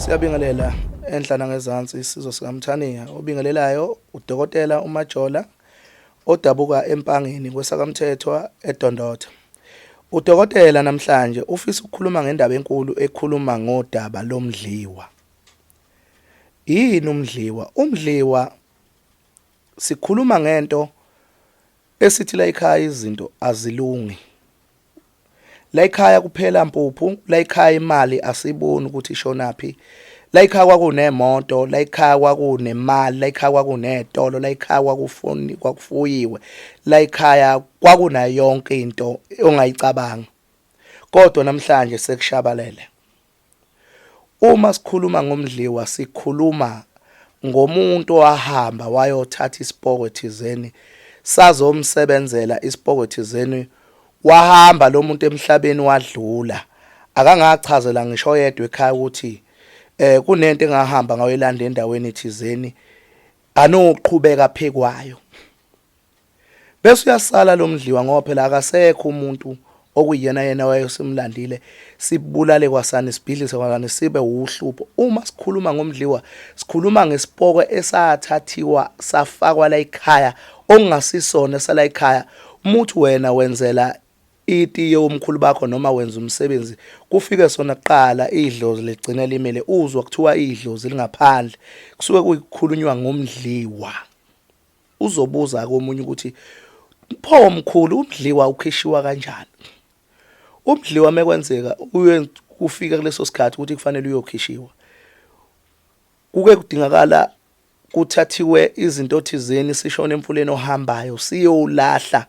Siyabingelela enhla nangezansi isizwe sikaMthaniya obingelelayo udokotela uMajola odabuka empangeni kwesakamthethwa edondotha udokotela namhlanje ufisa ukukhuluma ngendaba enkulu ekhuluma ngodaba lomdliwa yini umdliwa umdliwa sikhuluma ngento esithi la ekhaya izinto azilungi Layikhaya kuphela mpuphu, layikhaya imali asiboni ukuthi ishonaphi. Layikhaya kwakunemoto, layikhaya kwakunemali, layikhaya kwakunezitolo, layikhaya kwakufuni kwakufuyiwe. Layikhaya kwakunayo yonke into ongayicabanga. Kodwa namhlanje sekushabalele. Uma sikhuluma ngomdliwa sikhuluma ngomuntu owahamba wayothatha isipokwe thizeni sazomsebenzela isipokwe thizeni wahamba lo muntu emhlabeni wadlula akangachazela ngisho oyedwa ekhaya ukuthi eh kunento engahamba ngayoyilanda endaweni thizeni anoqhubeka phekwayo Bese uyasala lo mdliwa ngoba phela akasekho umuntu okuyena yena wayesimlandile sibulale kwasani sibhidlise kwasani sibe uhlupho uma sikhuluma ngomdliwa sikhuluma ngesipoko esathathiwa safakwa la ekhaya okungasisona esala ekhaya umuthi wena wenzela itiye umkhulu bakho noma wenza umsebenzi kufike sona kuqala idlozi ligcine limele uzwa kuthiwa idlozi lingaphandle kusuke kuyikhulunywa ngomdliwa Uzobuza ke omunye ukuthi pho mkhulu umdliwa ukhishiwa kanjani? Umdliwa mekwenzeka uye kufika kuleso sikhathi ukuthi kufanele uyokhishiwa. Kuke kudingakala kuthathiwe izinto thizeni sishone emfuleni ohambayo siyolahla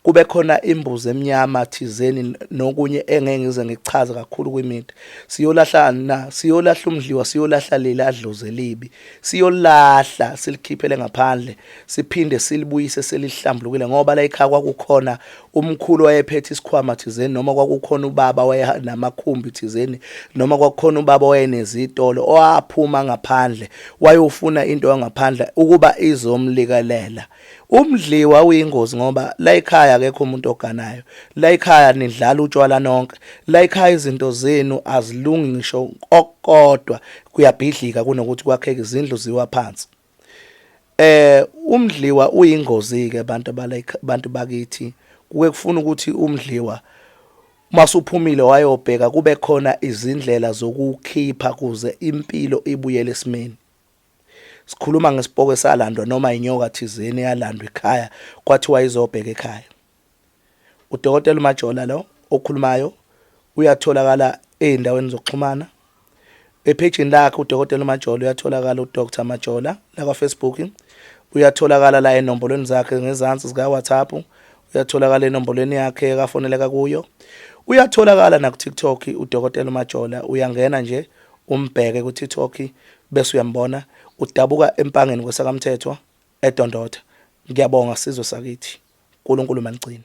kube khona imbuzi emnyama thizeni nokunye engeke ngize ngikuchaze kakhulu kwimidi siyolahla na siyolahla umdliwa siyolahla leli adloze libi siyolahla silikhiphele ngaphandle siphinde silibuyise selihlambulukile ngoba la ekhaya kwakukhona umkhulu wayephethe isikhwama thizeni noma kwakukhona ubaba wayenamakhumbi thizeni noma kwakukhona ubaba wayenezitolo owaphuma ngaphandle wayofuna into yangaphandle ukuba izomlikelela Umdliwa uyingozi ngoba layikhaya akekho umuntu oganayo. Layikhaya nidlala utshwala nonke. Layikhaya izinto zenu azilungi ngisho okukodwa kuyabhidlika kunokuthi kwakheke izindlu ziwa phansi. Eh umdliwa uyingozi ke abantu abantu bakithi. Kuke kufuna ukuthi umdliwa masuphumile wayobheka kube khona izindlela zokukhipha kuze impilo ibuyele esimeni. Sikhuluma ngesipoko esalandwa noma inyoka thizeni eyalandwa ekhaya kwathiwa izobheka ekhaya. UDokotela uMajola lo okhulumayo uyatholakala ezindaweni zokuxhumana. Ephejini lakhe uDokotela uMajola uyatholakala uDr Majola lakwaFacebook. Uyatholakala la enombolweni zakhe ngezansi zikaWhatsApp. Uyatholakala enombolweni yakhe akafoneleka kuyo. Uyatholakala nakuTikTok uDokotela uMajola uyangena nje umbheke kuTikTok bese uyambona udabuka empangeni kwesakamthethwa edondotha ngiyabonga sizwe sakithi unkulunkulu manigcine.